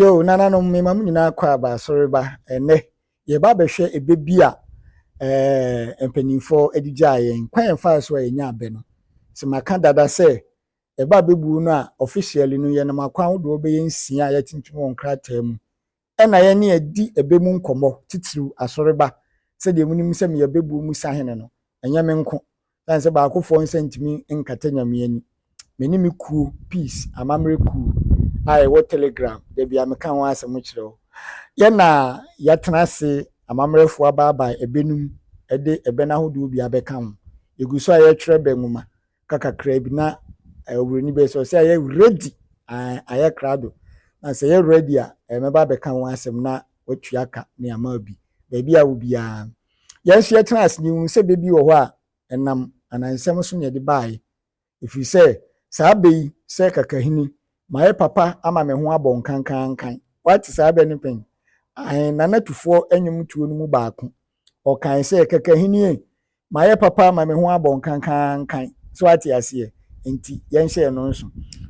Yo, nananom, mema mo nyinaa kɔ aba asɔre ba ɛnnɛ. Yɛba abɛhwɛ ɛbɛ bi a eh, mpanimfoɔ de gyaa yɛn. Kwan ɛfaa so a yɛnya abɛ no. Sɛ maka dada sɛ ɛba abɛbuo no a, officially no, yɛnam akwan ahodoɔ bɛyɛ nsia a yɛatintim wɔ nkrataa mu. Ɛna yɛne adi ɛbɛ mu nkɔmmɔ, titiriw asɔreba. Sɛdeɛ monim sɛ meyɛ bɛbuo mu sahene no, ɛnyɛ me nko, ɛsiane sɛ baakofoɔ nsa ntumi nkata Nyame ani. Me ne me kuo, Peace amammerɛ kuo a ɛwɔ Telegram, da biara meka ho asɛm kyerɛ wo. Yɛna yɛatena ase, amammerɛfoɔ abaabae ɛbɛ no mu de ɛbɛ no ahodoɔ bi abɛka ho. Yɛgu so a yɛretwerɛ ɛbɛ nwoma, ka kakraa bi na eh, oburoni bɛyɛ sɛ ɔsɛ ayɛ ready eh, ayɛ krado na sɛ yɛ ready a eh, mɛba abɛka ho asɛm na watua ka ne ama bi baabi a wo biara yɛn nso yɛtena ase ne hunu sɛ bɛbi wɔ hɔ a ɛnam anansɛm so na yɛde baeɛ ɛfiri sɛ saa bɛ yi sɛ kakahini mayɛ papa ama me ho abɔ nkankankan wate saa bɛ no pɛn ahen nanatufoɔ anwom tuo no mu baako Ɔkae sɛ, Kɛkɛ ahenni ei, mayɛ papa ama me ho abɔ nkankankan. So ate aseɛ? Enti yɛnhyɛɛ no nso.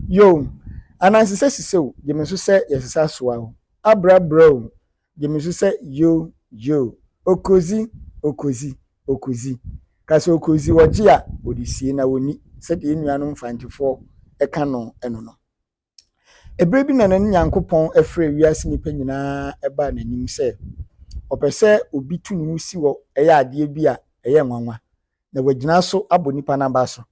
Yoo, ananse sɛ sisɛ o, gye me so sɛ yɛsesa soa o, abra bra o, gye me so sɛ yoo, yoo, okodzi, okodzi, okodzi. Ka sɛ okodzi, ɔgye a, ɔde sie na ɔnni, sɛdeɛ yɛn nuanom Mfantefoɔ ka no no no. Ɛberɛ bi na na ne Nyankopɔn afrɛ wiase nnipa nyinaa baa n'anim sɛ ɔpɛ sɛ obi tu ne ho si wɔ ɛyɛ adeɛ bi a ɛyɛ nwanwa na wagyina so abɔ nnipa no aba so.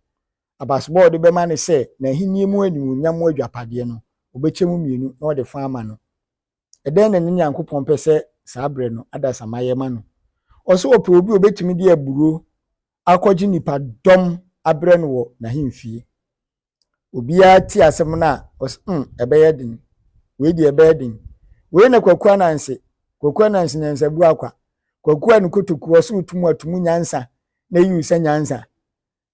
Abasebɔ a ɔde bɛma ne sɛ n'ahennie mu animuonyam mu adwapadeɛ no, ɔbɛkyɛ mu mmienu na ɔde fa ama no. Ɛdɛn na ne Nyankopɔn pɛ sɛ saa berɛ no adasamma yɛ ma no? Ɔse ɔpɛ obi a ɔbɛtumi de aburoo akɔgye nnipadɔm abrɛ no wɔ n'ahemfie. Obiara ti asɛm no a, ɔsɛ mm, ɛbɛyɛ den. Wei deɛ ɛbɛyɛ den. Wei na Kwaku Ananse, Kwaku Ananse nyansabu akwa. Kwaku a ne kotoku ɔso retumu atumu nyansa na eyi sɛ nyansa.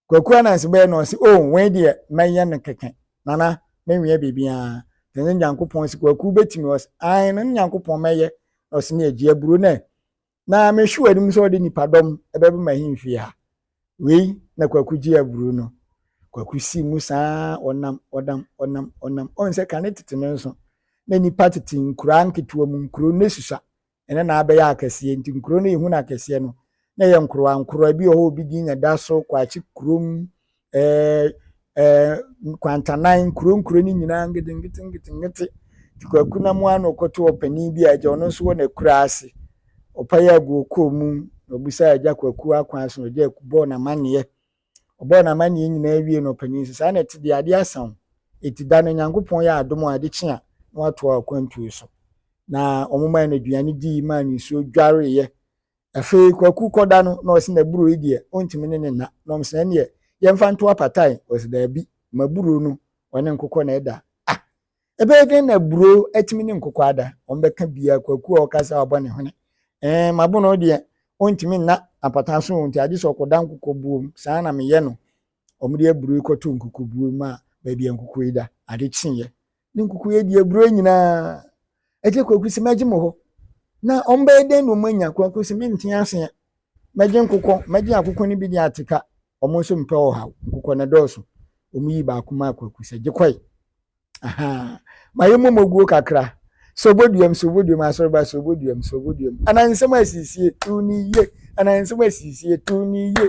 Kwaku Ananse bɛyɛ na ɔse, oh, wei deɛ mɛyɛ no kɛkɛ. Nana, menwea biribiara. Te ne Nyankopɔn se Kwaku bɛtumi ɔse, ae, ne Nyankopɔn mɛyɛ. Ɔse ne agyi aburo nɛ, na mehwe w'anim sɛ ɔde nnipadɔm bɛba m'ahemfie ha. Wei na Kwaku gye aburo no. Kwaku si mu saa ɔnam ɔnam ɔnam ɔnam ɔn sɛ kane tete no nso na nnipa tete nkuraa nketewa mu nkuro no susua ɛna na abɛyɛ akɛseɛ nti nkuro no yɛhu no akɛseɛ no na yɛ nkorowa nkorowa bi wɔ hɔ obi din nyɛ da so kwakye kurom ɛɛ ɛɛ kwantanan nkuro nkuro no nyinaa ngetenkete ngetenkete nti kwaku na mu ano kɔto ɔpanin bi a agya ɔno nso wɔ n'akura ase ɔpae agu ɔkɔɔ mu na ɔbisaa agya kwaku akwan so na agya bɔɔ n'amanneɛ ɔbɔɔ n'amanneɛ nyinaa wie na ɔpanin sɛ saa na ɛte deɛ adeɛ asa wo ɛti da no nyankopɔn yɛ adom a ade kye a na watoa akwantuo so na wɔn maa no aduane dii maa no nsuo dwareeɛ Afei Kwaku kɔda no na ɔse n'aburo yi deɛ ɔntumi ne no nna na ɔmse ɛneɛ yɛmfa nto apatae ɔse daabi m'aburo no ɔne nkokɔ na ɛda ah ɛbɛyɛ dɛn na aburo atumi ne nkokɔ ada ɔmbɛka biaa Kwaku a ɔka saa ɔbɔ ne hwene ɛɛn m'abono no deɛ ɔntumi nna apatae so nti agye sɛ ɔkɔda nkokɔ buo mu saa na meyɛ no ɔmde aburo yi kɔtoo nkokɔ buo mu a baabi a nkokɔ yi da ade kyeeɛ ne nkukuo adi aburoo nyinaa ɛkyɛ kwaku sɛ mɛgye mo hɔ na wɔn bɛyɛ dɛn na wɔn anya kwaku sɛ mente aseɛ mɛgye nkokɔ mɛgye akokɔ no bi de ateka wɔn nso mpɛ ɔhaw nkokɔ no dɔɔso wɔn yi baako maa kwaku sɛ gye kɔe ahaa ma yɛ mmom oguo kakra sɛ oboduam sɛ oboduam asɔreba sɛ oboduam sɛ oboduam anansɛm asisie tu ne yie anansɛm asisie tu ne yie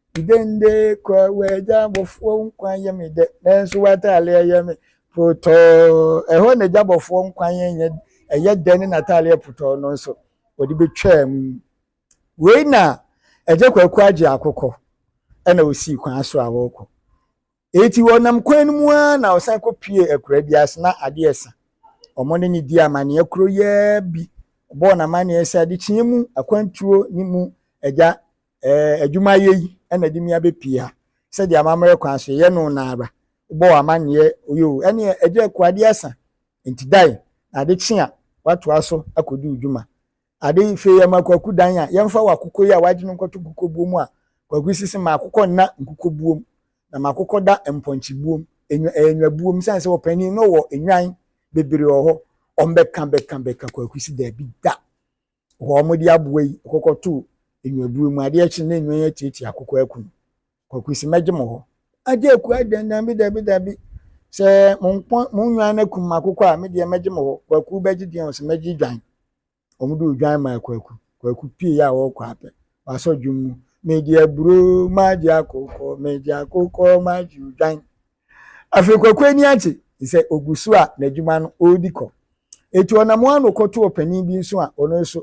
Dende kɔ w'agya bɔfoɔ nkwa yɛ me dɛ nanso w'ataaleɛ yɛ me protɔɔ. Ɛhɔ na agya bɔfoɔ nkwa yɛ nyɛ ɛyɛ dɛ ne n'ataaleɛ protɔɔ no nso wɔde bɛtwaa mu. Wei na agya Kwaku agye akokɔ ɛna ɔsii kwan so a ɔrekɔ. Enti wɔnam kwan no mu ara na wɔsan kɔpuee akuraa bi ase na ade resa. Wɔn ne no dii amanneɛ koro yi ara bi bɔɔ no amanneɛ sɛ adekyeeɛ mu akwantuo ne mu agya adwumayɛ yi na ɛde me abɛpue ha. Sɛdeɛ amammerɛ kwan so yɛyɛ no no ara, wobɔɔ amanneɛ yoo, ɛnneɛ agya akuo ade asa, enti dan na ade kye a woatoa so akɔdi wo dwuma. Ade hwee ma Kwaku dan a yɛmfa w'akokɔ yi a w'agye no nkɔto nkokɔbuo mu a Kwaku si se m'akokɔ nna nkokɔbuo mu na m'akokɔ da mpɔnkyebuo mu, enwa ɛyɛ nwabuo mu sane sɛ ɔpanin no wɔ nnwan bebree wɔ hɔ ɔmbɛka bɛka bɛka Kwaku se daabi da hɔ a wɔde aboa yi kɔkɔtoo nwabuo mu adeɛ kye na nnwan atiatia akokɔ aku no Kwaku se mɛgye mo hɔ. Agye aku ai dɛn daabi daabi daabi sɛ mo nko mo nnwan no akum m'akokɔ a me deɛ mɛgye mo hɔ. Kwaku bɛgye deɛn ɔse mɛgye dwan. Wɔn de odwan maa kwaku. Kwaku pue a ɔrekɔ a pɛ wasɔ dwom mu megye aburoo magye akokɔ megye akokɔ magye odwan. Afei kwaku ani agye sɛ ogu so a n'adwuma no ɔredi kɔ. Eti ɔnam ano kɔto ɔpanin bi nso a ɔno nso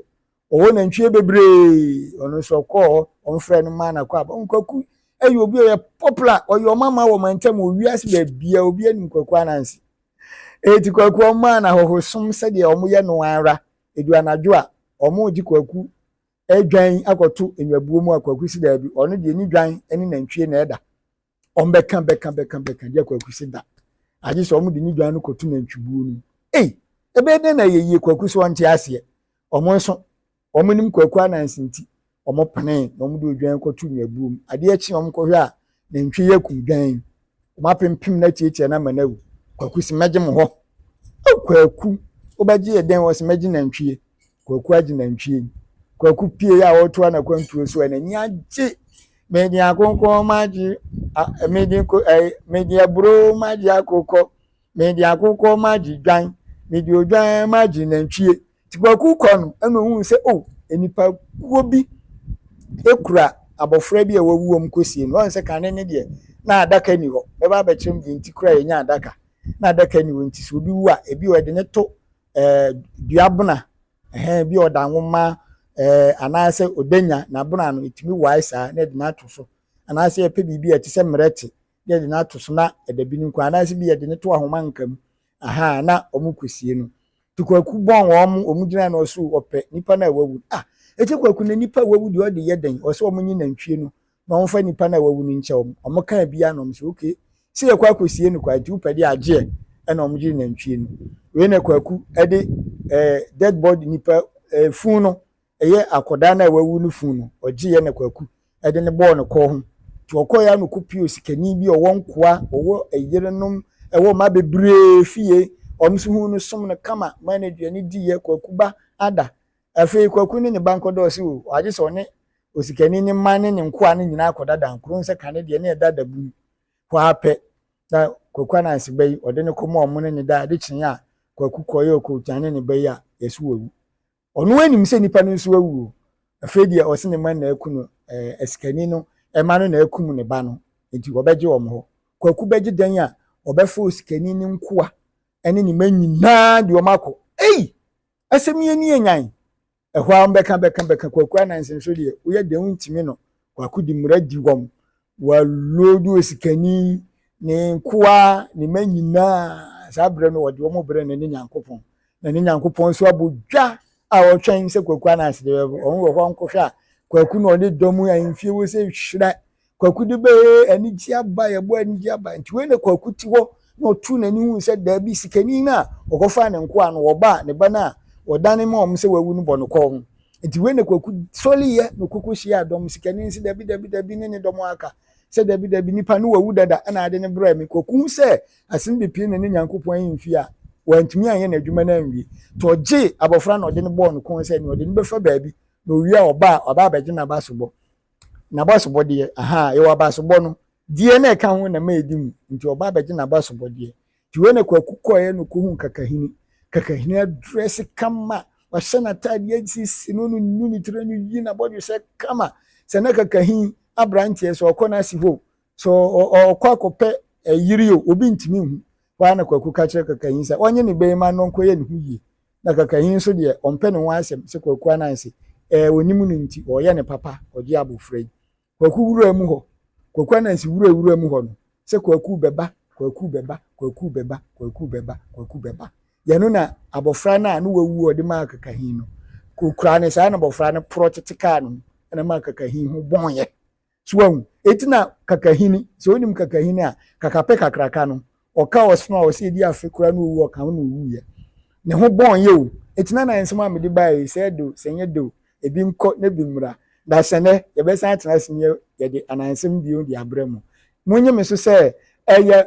Ɔwɔ nantwie bebree, ɔno nso ɔkɔɔ hɔ, wɔfrɛ no maa nakɔ aba. Nkwaku yɛ obi a ɔyɛ popular, ɔyɛ ɔmama wɔ mantam wɔ wiase baabiara, obi anim Kwaku Ananse. Eti Kwaku ɔmaa no ahɔhosom sɛdeɛ wɔyɛ no ara, edu anadwo a, wɔregye Kwaku dwan akɔto nnwabuo mu a Kwaku si daabi, ɔno deɛ ne dwan ne nantwie na ɛda. wɔn bɛka bɛka bɛka bɛka gye kwaku si da agye sɛ wɔn de ne dwan no kɔto nantwibuo no ei ɛbɛyɛ dɛn na yɛyie kwaku so wɔnte aseɛ wɔn nso wɔn nim kwaku anansi nti wɔn pene na wɔn de odwan kɔto nwabuo mu adeɛ kye wɔn kɔhwɛ a nantwi yɛ kum dwan wɔn apempem na tiatia na ama na awu kwaku si mɛgye mo hɔ kwaku wobɛgye yɛ dɛn wɔ si mɛgye nantwie Kwaku agye nantwie mu. Kwaku pie a ɔretu anakwantuo so a n'ani agye. Mede akonkɔn magye mede ko ɛɛ mede aburo magye akokɔ. Mede akokɔ magye dwan. Mede odwan magye nantwie. Ti kwaku kɔ no ɛna ohun sɛ o oh, nipa kuo bi ekura abɔfra bi a wawu wɔn kɔsie no ɔn sɛ kane ne deɛ na adaka ni hɔ bɛba abɛkyerɛ mu deɛ nti kura yɛnya adaka na adaka ni hɔ nti sɛ obi wu a ebi ɔde ne to eh, dua bona eh, bi ɔda nwoma eh, anaasɛ ɔdanya n'abona no ɛtumi wae saa na ɛde no ato so anaasɛ yɛpɛ biribi a ɛte sɛ mmerɛte na yɛde no ato so na ɛda bi no nkɔ anaasɛ bi yɛde no to ahoma nka mu aha na wɔn kɔsie no nti kwaku bɔn wɔn wɔn gyina na ɔso ɔpɛ nipa no a wawu ah ɛkyɛ kwaku na nipa a wawu deɛ ɔde yɛ dɛn ɔsɛ wɔn nye nantwie no na wɔmfa nnipa no a wɔawu no nkyɛ wɔn. Wɔkaa biara na wɔn sɛ, Ok, sɛ yɛkɔ akɔsie no kwa nti wopɛ de agyeɛ ɛna wɔn gyee nantwie no. Wei na Kwaku ɛde eh, dead body nipa eh, fun no ɛyɛ akɔdaa no a wawu no fun no ɔgyeeɛ na Kwaku ɛde no bɔɔ no kɔɔ ho. Nti ɔkɔeɛ a na ɔkɔpio sikani bi ɔwɔ nkoa ɔwɔ ɛyerenom ɛwɔ mma bebree fie wɔn nso hu no som no kama maa no aduane diiɛ Kwaku ba ada. Afei Kwaku ne ne ba nkɔdɔɔso o, agye sɛ ɔne osikani ne mma ne ne nkoa no nyinaa kɔdadaa nkuro nsɛ ka ne deɛ ne ɛda da bunu hɔ ara pɛ na Kwaku Ananse ba yi ɔde no kɔ ma ɔmo ne ne da ade kyeeɛ a Kwaku kɔeɛ ɔkɔgya ne ne ba yi a yɛse wawu ɔno anim sɛ nipa no nso awu o afei deɛ ɔse ne mma na aku no ɛɛ asikani no ɛma no na akum ne ba no nti ɔbɛgye wɔn hɔ Kwaku bɛgye dɛn a ɔbɛfa osikani ne nkoa ɛne ne mma nyinaa de wɔn akɔ ei asɛm yɛ ni yɛ nyan Ɛhɔ ara bɛka bɛka bɛka Kwaku Ananse nso deɛ woyɛ dɛn wontumi no Kwaku de mmara di wɔn wɔaloadu osikani ne nkoa ne mma nyinaa saa berɛ no wɔde wɔn brɛ ne ne Nyankopɔn na ne Nyankopɔn nso abɔ dwa a ɔtwɛn sɛ Kwaku Ananse deɛ wɔn wɔ hɔ nkɔhwɛ a Kwaku na ɔne dɔm ahemfie wɔ sɛ hyira Kwaku de bɛɛ anigye abae, ɛbɔ anigye abae. Nti wei na Kwaku te hɔ na ɔtoo n'ani hui sɛ daabi, sikani no a ɔkɔfaa ne nkoa no, ɔba a ne ba no a ɔdane maa wɔn sɛ wawu no bɔ no kɔɔ ho. Nti wei na Kwaku sɔreeɛ na ɔkɔkɔhyiaa dɔm no. Sikani no se, Dabi, dabi, dabi, ne ne dɔm aka sɛ, Dabi, dabi, nipa no wawu dada na ade no brɛɛ me. Kwaku hu sɛ asem de pie na ne Nyankopɔn ahemfie a wantumi anyɛ n'adwuma no anwie. Nti ɔgyee abɔfra no na ɔde no bɔɔ no kɔn sɛ nea ɔde no bɛfa baabi na ɔwie a ɔba a, waba abɛgye n'abasobɔ. N'abasobɔdeɛ, ahaa, yɛwɔ abasobɔ no, deɛ na ɛka ho na mɛɛdi mu, nti ɔba abɛgye n'abasobɔdeɛ. Nti wei na Kwaku kɔeɛ na ɔkɔhuu Kakahini. Kakahini adrɛse kama, wahyɛ n'ataadeɛ asisi no, no nu ne tiri, no yi n'abɔdwesɛ kama. Sɛ na Kakahin aberanteɛ, sɛ ɔkɔ no ase hoo, So ɔkɔ akɔpɛ yiri o, obi ntumi nhu. Hɔ ara na Kwaku ka kyerɛ Kakahin sɛ ɔnye ne bɛrima no nkɔyɛ ne ho yie. Na Kakahin nso deɛ, ɔmpɛ ne ho asɛm sɛ Kwaku ananse. Ɛɛ, ɔnim no nti, ɔreyɛ ne papa, ɔgye abofra yi. Kwaku wuraa mu hɔ. Kwaku ananse wuraa wuraa mu hɔ no, sɛ Kwaku bɛba, Kwaku bɛba, Kwaku bɛba, Kwaku bɛba, Kwaku bɛba. Yɛ no na abofra no a ne wawu a ɔde maa Kakahin no, ɔkuraa no saa na abofra no porɔ tete kaa ne ho, ɛna ɛmaa Kakahin ho bɔeɛ. So wahu? Enti na kakahini, sɛ wonim kakahini a, kakapɛ kakraka no, ɔka ɔsono a ɔsɛ edi afe koraa na owu ɔka ho na owuiɛ. Ne ho bɔn yɛ o. Enti na na nsɛm a mede baeɛ yi, sɛ ɛyɛ dɛ o, sɛ ɛnyɛ dɛ o, ebi nkɔ na ebi mmra. Na sɛ nnɛ yɛbɛsan atena ase na yɛde anansɛm bio de abrɛ mo, monnye me so sɛ ɛyɛ